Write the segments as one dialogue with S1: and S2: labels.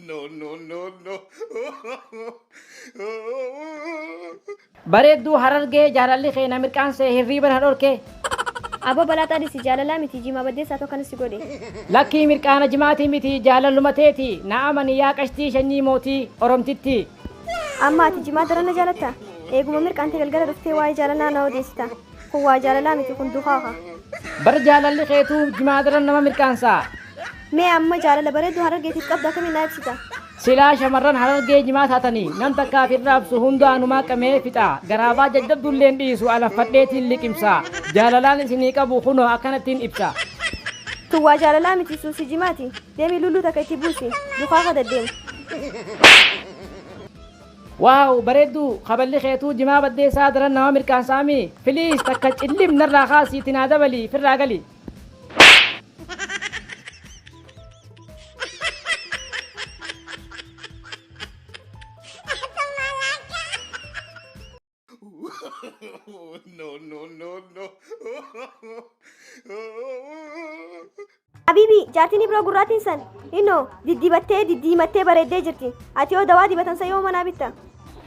S1: no, no, no, no.
S2: Bareedduu harargee jaalalli kee na mirqaansee hirriiba na dhorke. Aboo
S3: balaaxaa dhisi jaalalaa miti jimaa baddeessaatu akkanas si godhe. Lakkii mirqaana
S2: jimaatii miti jaalalluma teeti na amani yaa qashtii shanyii mootii oromtittii. Amma
S3: ati jimaa daran na jaalatta? Eeguma mirqaante galgala dhuftee waa'ee jaalalaa na odeessita. Kun waa jaalalaa miti kun duhaaha. Bar jaalalli
S2: keetuu jimaa daran nama mirqaansa. Mee amma
S3: jaalala bareedduu harargeetiif qabdu akkamiin naa ibsita? Silaa shamarran
S2: harargee jimaa taatanii nam takkaaf hin raabsu hundaa anumaa qamee fixa garaabaa jajjabdulleen dhiisu alaffadheetiin liqimsa jaalalaan isinii qabu kunoo akkanattiin ibsa. Tun waa
S3: jaalalaa miti suusii jimaati. Deemii lulluu takka itti buusi. Duhaaha daddeemu.
S2: Wow bareedduu kaballi keetuu jimaa baddeessaa daran nama mirqaansaa mii please takka cillim narraa kaasi itti naa dabali firraa gali.
S1: Oh, no, no, no, no.
S3: Habiibii jaartiin biroo gurraatiin san innoo diddibattee diddiimattee bareeddee jirti. Ati yoo dawaa dibatan san yoo manaa bitta.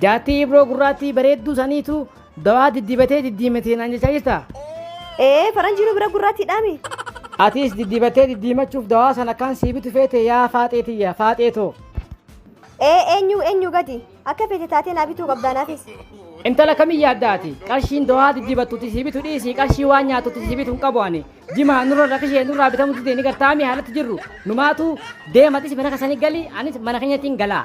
S3: Jaartii ibroo
S2: gurraattii bareedduu saniitu dawaa diddibatee diddiimatee naan jechaa jirta. Ee faranjii
S3: nu bira gurraattiidhaami. Atiis
S2: diddibatee diddiimachuuf dawaa sana kan sii bitu feete yaa faaxee tiyya faaxee too. Ee
S3: eenyu eenyu gadi. Akka feete taatee naa bituu qabdaa naafis. Intala kami
S2: yaadda ati? Qarshiin dohaa diddibattuti si bitu dhiisii qarshii waan nyaatutti si bitu hin qabu ani. Jimaa nurra rakishee nurraa bitamu didee ni gartaami haalatti jirru. Numaatu deematis mana kasanii gali anis mana kenyatiin galaa.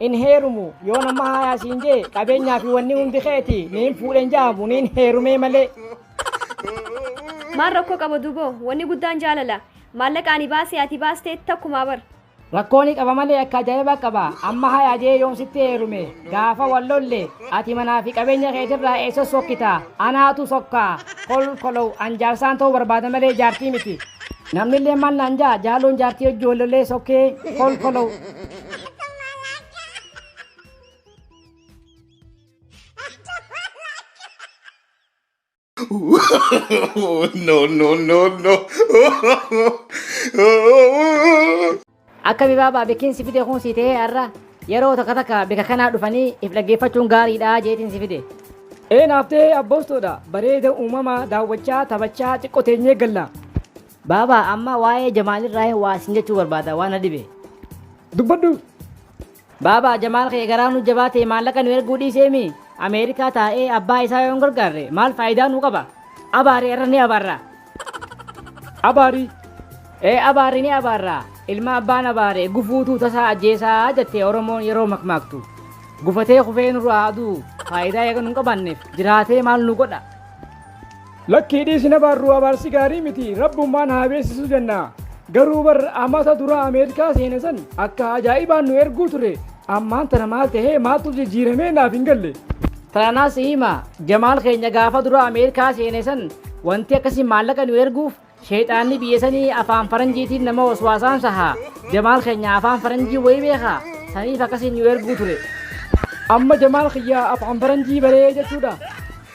S2: Hin heerumu. Yoo namma haayaa siin jee qabeenyaa fi wanni hundi keeti ni hin fuudhe hin jaamu ni hin heerumee malee.
S3: Maal rakkoo qaba duboo? Wanni guddaan jaalala. Maallaqa ani baase ati baaste takkumaa bar. Rakkoo ni qaba
S2: malee akka ajaa'ibaa qaba. Amma hayaa jee yoon sitti heerume gaafa wal lolle ati manaa fi qabeenya keetirraa eessa sokkita? Anaatu sokka. Kolkolow an jaarsaan ta'uu barbaada malee jaartii miti. Namnillee maal naan jaa jaaloon jaartii wajji wal lollee sokkee kolkolow.
S1: no, no, no, no.
S2: Akka bibaabaa beekin si fide kun si ta'ee har'a yeroo takka takka bika kanaa dhufanii if dhaggeeffachuun gaariidha jeetiin si fide. Ee naaf ta'ee abboostoodha bareeda uumamaa daawwachaa taphachaa xiqqoo teenyee galla. Baaba amma waa'ee Jamaal irraa waa isin jechuu barbaada waan na dhibe. Dubbadhu. Baaba Jamaal kee garaa nu jabaate maallaqa nu erguu dhiiseemi Ameerikaa taa'ee abbaa isaa yoo hin gargaarre maal faayidaa nu qaba? Abaari irra ni abaarra. Abaari. Ee abaari ni abaarra. Ilma abbaan abaare gufuutu tasaa ajjeesaa jette Oromoon yeroo makmaaktu. Gufatee kufee nurraa aduu faayidaa eega nu hin qabaanneef jiraatee maal nu godha?
S4: Lakkii dhiisi hin abaarru abaarsi gaarii miti rabbummaan haa beeksisu jenna garuu bar amata dura ameerikaa seene san akka ajaa'ibaan nu erguu ture ammaan tana maal tahee maaltu jijjiiramee naaf hin galle. Tanaa si hima
S2: jamaal keenya gaafa dura ameerikaa seene san wanti akkasii maallaqa nu erguuf Sheyxaanni biyya sanii afaan faranjiitiin nama waswaasaan saha. Jamaal keenya afaan faranjii wayii beekaa? Saniif akkasiin nu erguu ture. Amma
S4: Jamaal kiyya afaan faranjii baree jechuudha?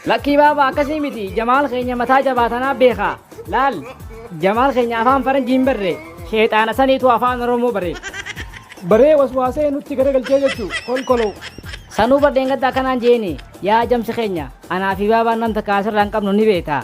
S4: Lakkii baaba
S2: akkasii miti Jamaal keenya mataa jabaa tanaa beekaa. Laal Jamaal keenya afaan faranjii hin barre. Sheyxaana saniitu afaan Oromoo bare. Baree
S4: waswaasee nutti garagalchee jechuu kolkoloo. Sanuu bar
S2: dheengadda akkanaan jeeni yaa jamsi keenya anaa fi baabaan nam takka asirraa hin qabnu ni beektaa.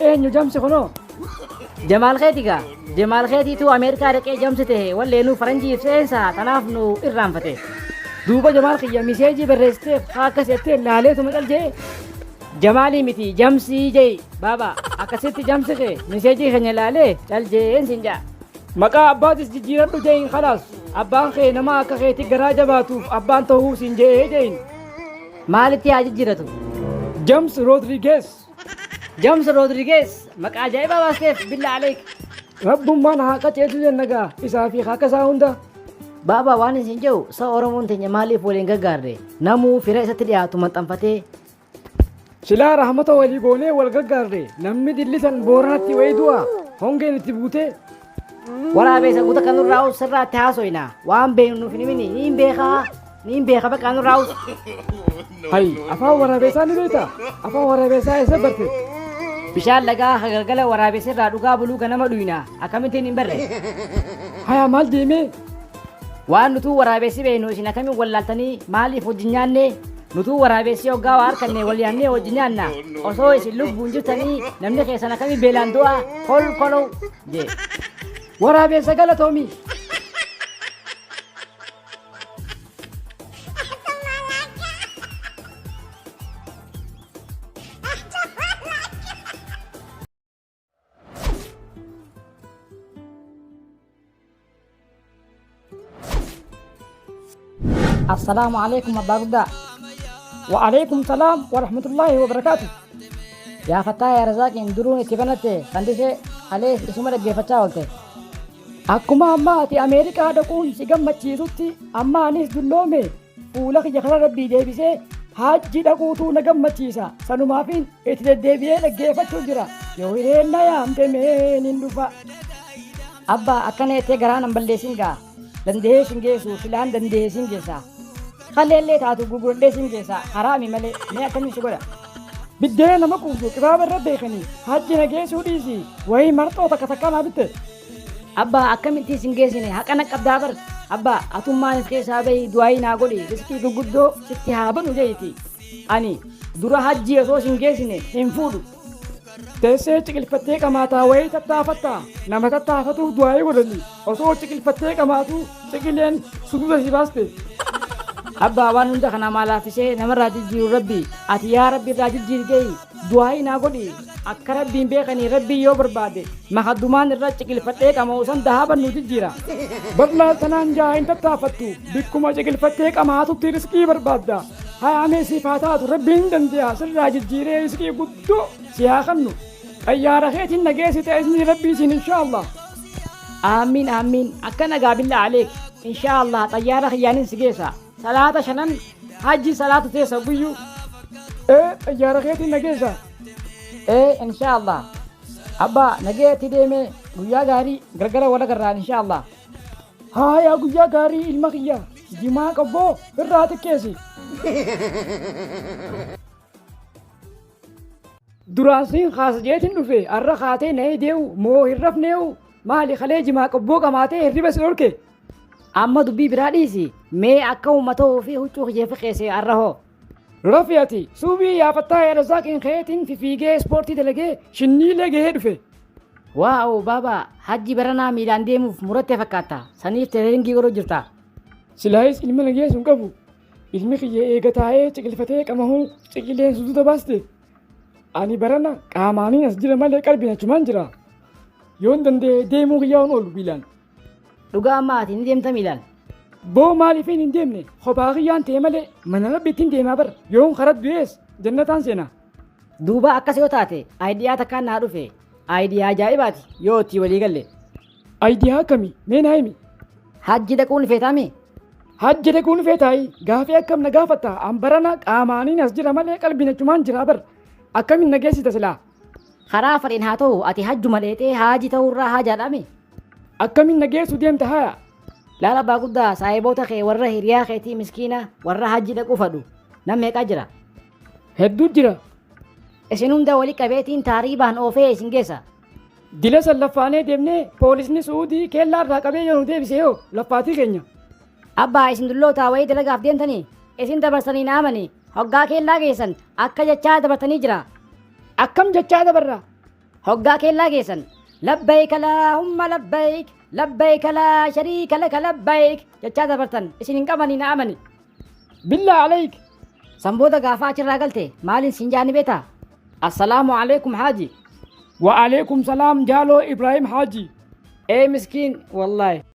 S4: Eenyu jamsi kunoo? Jamaal
S2: keeti gaa. Jamaal keetiitu Ameerikaa dhaqee jamsi ta'e walleenuu faranjii ibseensa tanaaf nu irraanfate. Duuba Jamaal kiyya miseejii barreessiteef haa akkas jettee laaleetuma cal jee. Jamaalii miti jamsii jee baaba akkasitti jamsi kee miseejii keenya laalee cal jeen siin jaa. Maqaa abbaatis
S4: jijjiiradhu jeeyin kalaas abbaan kee nama akka keetii garaa jabaatuuf abbaan ta'uu siin je'ee jeeyin. Maalitti
S2: haa jijjiiratu? James
S4: Rodriguez. James
S2: Rodriguez maqaa ajaa'ibaa baasteef billaa aleek. Rabbummaan
S4: haa qaceelchu jenna gaa isaa fi akka isaa hunda. Baabaa waan
S2: isin jedhu sa'a Oromoon teenya maaliif waliin gaggaarre namuu fira isatti dhiyaatu maxxanfatee
S4: Silaa rahmata walii goonee wal gaggaarre namni dillisan booranatti wayii du'a hongeen itti buutee Waraabessa
S2: guuta kan nurraa us sirraatti haasoyna. Waan beeknu nuuf hin himini. Niin beeka. Niin beeka bakka nurraa us.
S4: Hayi, afaan waraabeessaa ni beekta? Afaan waraabeessaa eessa barte? Bishaan
S2: lagaa akka galgala waraabessa irraa dhugaa buluu ganama dhuyna. Akkamittiin hin barre? Haya
S4: maal deemee? Waan
S2: nutuu waraabessi beeknu isin akkamiin wallaaltanii maaliif wajjin nyaanne? Nutuu waraabessi hoggaa waa harkanne wal yaannee wajjin nyaanna. Osoo isin lubbuun jirtanii namni keessan akkamii beelaan du'a kol kolow jee. Waraabessa
S4: galatoomi.
S2: Assalaamu alaikum abbaa guddaa. Wa alaikum
S4: salaam wa rahmatullahi wa barakaatu. Yaa
S2: fattaa yaa razaaqiin duruun itti banatte fandisee alees isuma dhaggeeffachaa oolte. Akkuma
S4: amma ati Ameerikaa dhaquun si gammachiisutti amma anis dulloome Fuula kiyya kana rabbii deebisee haajjii dhaquutuu na gammachiisa. Sanumaafiin itti deddeebi'ee dhaggeeffachuu jira. Yoo hireen na yaamte mee nin dhufa.
S2: Abbaa akkana jettee garaa nan balleessin gaa. Danda'ee sin geessu silaan danda'ee sin geessa. Kalleellee taatu gurguradhee sin geessa. Haraami malee mee akkamiin si godha. Biddeena nama
S4: quubsu qibaaba irra beekanii hajji na geessuu dhiisi. Wayii marxoo takka takka naa bitte. Abbaa
S2: akkamitti isin geessine haqana qabdaa bar abbaa atummaan keessaa bahi du'aayii naa godhi riskii gurguddoo sitti haa banu jeeti ani dura hajjii osoo isin geessine hin fuudhu. Teessee
S4: ciqilfattee qamaataa wayii tattaafatta nama tattaafatuuf du'aayii godhani osoo ciqilfattee qamaatuu ciqileen sududa si baaste.
S2: Abbaa waan hunda kana maa laaffisee namarraa jijjiiru rabbi ati yaa rabbi irraa jijjiiri jehi Du'aa'ii naa godhi akka rabbiin beekanii rabbiin yoo barbaade makaddumaan irra ciqilfadhee qama'u san dahaaban nu jijjiira. Badlaa
S4: sanaan jaa hin tattaafattu bikkuma ciqilfattee qamaatutti riskii barbaadda. Hayaamee siif haa taatu rabbiin dandeeha sirraa jijjiiree riskii guddoo si haa kennu. Xayyaara keetiin nageessi ta'e isinii rabbii siin inshaallah. Aamiin
S2: aamiin akka nagaa billaa aleek inshaallah xayyaara kiyyaanin si geessa. Salaata shanan hajji salaatu teessa hogguyyu. E
S4: xayyaara keetiin na geessa. E
S2: inshaa Allah. Abba nagee itti deeme guyyaa gaarii galgala wal agarraan inshaa Allah. Haayaa
S4: guyyaa gaarii ilma kiyya jimaa qobboo irraa xiqqeessi. Duraan siin kaasa jeetiin dhufe arra kaatee na eedeewu moo hin rafneewu maali kalee jimaa qobboo qamaatee hirriba si dhorke Amma dubbii
S2: biraa dhiisi. Mee akka uuma ta'uu fi huccuu kiyya fiqeesse arra hoo. Rafi ati
S4: suubii yaafattaa yaada zaaqiin keetiin fifiigee ispoortii dalagee shinniilee gahee dhufe. Waa'oo
S2: baaba hajji baranaa miilaan deemuuf murattee fakkaatta. Saniif tereeringii godhuu jirta. Silaayis
S4: ilma nageessu hin qabu. Ilmi kiyya eega taa'ee ciqilfatee qamahuu ciqileen suduuta baaste. Ani barana qaamaaniin as jira malee qalbiin achumaan jira. Yoon danda'e deemuu kiyyaa on oolu biilaan. Dhugaa amma
S2: ati ni deemta miilaan? Boo maaliifin
S4: hin deemne kophaa kiyyaan ta'e malee mana rabbiittiin deemaa bar yoon karaa du'ees jannataan seenaa. Duuba akkas
S2: yoo taate aayidiyaa takkaan naa dhufe aayidiyaa ajaa'ibaati yoo itti walii galle. Aayidiyaa
S4: akkamii mee naa himi? Hajji dhaquun
S2: feetaami? Hajji dhaquun
S4: feetaayi gaafii akkam na gaafatta an barana qaamaaniin as jira malee qalbiin achumaan jira bar akkamiin na geessita silaa Karaa fadheen
S2: haa ta'u ati hajjuma dheexee haaji ta'uu irraa haajaadhaame. Akkamiin na
S4: geessu deemta haya? Laal abbaa
S2: guddaa saahiboota kee warra hiriyaa keetii miskiina warra hajji dhaquu fadhu nam meeqaa jira? Hedduu
S4: jira. Isin
S2: hunda wali qabeetiin taariibaan oofee isin geessa. Dila san
S4: laffaanee deemnee poolisni su'uudii keellaa irraa qabee yoo nu deebise yoo laffaatii keenya. Abbaa isin
S2: dullootaa wayii dalagaaf deemtani isin dabarsanii naamani hoggaa keellaa geessan akka jechaa dabartanii jira. Akkam
S4: jechaa dabarra hoggaa keellaa
S2: geessan labbayka laahumma labbayk labbayka laa shariika laka labbayk jechaa dabartan isin hin qabanii naamani.
S4: Billaa alayk san booda
S2: gaafaa achirraa galte maaliin siin jaani beeta? Assalaamu alaykum haaji. Wa alaykum
S4: salaam
S2: jaaloo
S4: Ibrahim haaji. Ee miskiin wallahi.